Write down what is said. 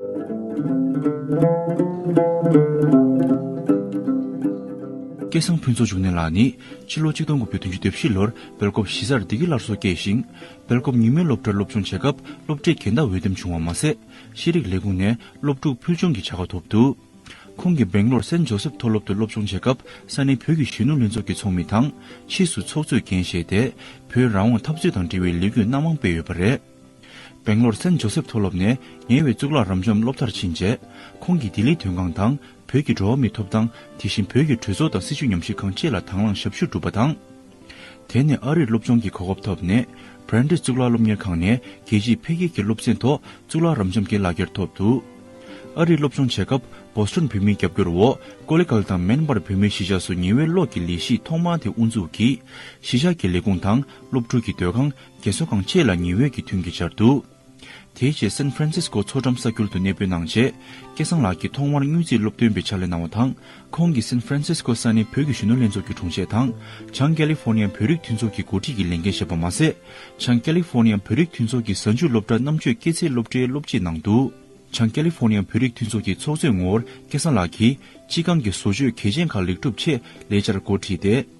སྐལ་བཟང་ཕུན་ཚོགས་འབྱུང་གནས་ལགས་ནི་ཕྱི་ལོ་གཅིག་སྟོང་དགུ་བརྒྱ་བདུན་ཅུ་དོན་བཞི་ལོར་སྦེལ་ཀོབ་གཞིས་སར་སྡེ་དགེ་སླར་གསོ་སྐྱེས་ཤིང། སྦེལ་ཀོབ་ཉིན་མོའི་སློབ་གྲྭར་སློབ་སྦྱོང་བྱེད་སྐབས་སློབ་གྲྭའི་འགལ་ཟླ་འོས་འདེམས་བྱུང་བ་མ་ཟད། ཤེས་རིག་ལས་ཁུངས་ནས་སློབ་ཕྲུག་ཕུལ་བྱུང་གི་བྱ་དགའ་ཐོབ་འདུག་ཁོང་གིས་སྦེང་ལོར་སེན་ཇོ་སེབ་མཐོ་སློབ་ཏུ་སློབ་སྦྱོང་བྱེད་སྐབས་ས་གནས་བོད་ཀྱི་གཞོན་ནུ་ལྷན་ཚོགས་ཀྱི་ཚོགས་མི་དང། ཕྱིས་སུ་ཚོགས་གཙོས་འགན་བཞེས་ཏེ་བོད་རང་དབང་འཐབ་རྩོད་དང་འབྲེལ་བའི་ལས་འགུལ་སྣ་མང་སྤེལ་ཡོད་པ་རེད། བེང་ལོར་སན་ཇོ་སེབ་མཐོ་སློབ་ནས་ངལ་བའི་གཙུག་ལག་རབ་འབྱམས་སློབ་མཐར་ཕྱིན་རྗེས། ཁོང་གིས་ལྡི་ལི་དོན་ཁང་དང་བོད་ཀྱི་འགྲོ་བ་མིའི་ཐོབ་ཐང་དེ་བཞིན་བོད་ཀྱི་གྲོས་ཚོགས་དང་སྲིད་བྱུས་ཉམས་ཞིབ་ཁང་བཅས་ལ་དང་བླངས་ཞབས་ཞུ་བསྒྲུབས་པ་དང། དེ་ནས་ཨ་རིར་སློབ་སྦྱོང་གི་གོ་སྐབས་ཐོབ་ནས་བྷརན་ཏི་གཙུག་ལག་སློབ་གཉེར་ཁང་ནས་རྒྱལ་སྤྱིའི་འཕེལ་རྒྱས་ཀྱི་སློབ་ཚན་ཐོག་གཙུག་ལག་རབ་འབྱམས་ཀྱི་ལག་འཁྱེར་ཐོབ་འདུག་ཨ་རིར་སློབ་སྦྱོང་བྱེད་སྐབས་བོ་སི་ཏོན་བོད་མིའི་རྒྱབ་སྐྱོར་འོག་ཀོ་ལེ་ཀལ་དང་མེན་པར་བོད་མིའི་གཞིས་ཆགས་སུ་ཉི་འོད་གློག་གི་ལས་གཞི་ཐོག་མ་དེ་དབུ་འཛུགས་ཀྱིས་གཞིས་ཆགས་ཀྱི་ལས་ཁུངས་དང་སློབ་ཕྲུག་གི་སྡོད་ཁང་རྒྱལ་ཚོགས་གང་ཆེ་ལ་ཉི་འོད་ཀྱི་ཐུན་གྱིས་སྦྱར་འདུག་དེའི་རྗེས་སན་ཧྥ་རན་སིས་ཀོ་མཚོ་འགྲམ་ས་ཁུལ་དུ་གནས་སྤོས་གནང་རྗེས་སྐལ་བཟང་ལགས་ཀྱིས་ཐོག་མར་དངུལ་རྩིས་སློབ་སྟོན་པའི་ཕྱག་ལས་གནང་བ་དང་ཁོང་གིས་སན་ཧྥ་རན་སིས་ཀོ་ས་གནས་བོད་ཀྱི་གཞོན་ནུ་ལྷན་ཚོགས་ཀྱི་དྲུང་ཆེ་དང་བྱང་ཀེ་ལི་ཧྥོ་ནི་ཡ་བོད་རིགས་མཐུན་ཚོགས་ཀྱི་འགོ་ཁྲིད་ཀྱི་ལས་འགན་བཞེས་པ་མ་ཟད་བྱང་ཀེ་ལི་ཧྥོ་ནི་ཡ་བོད་རིགས་མཐུན་ཚོགས་ཀྱི་གཟའ་མཇུག་སློབ་གྲྭ་རྣམ་དཔྱོད་སྐྱེད་ཚལ་སློབ་གྲྭའི་སློབ་སྤྱིས་གནང་འདུག་བྱང་ཀེ་ལི་ཧྥོ་ནི་ཡ་བོད་རིགས་མཐུན་ཚོགས་ཀྱི་ཚོགས་གཙོའི་ངོ་བོར་སྐལ་བཟང་ལགས་ཀྱིས་སྤྱི་ཁང་གི་བཟོ་བཅོས་གལ་ཆེན་ཁག་ལེགས་གྲུབ་ཆེད་ལས་བཅར་འགོ་ཁྲིད་དེ།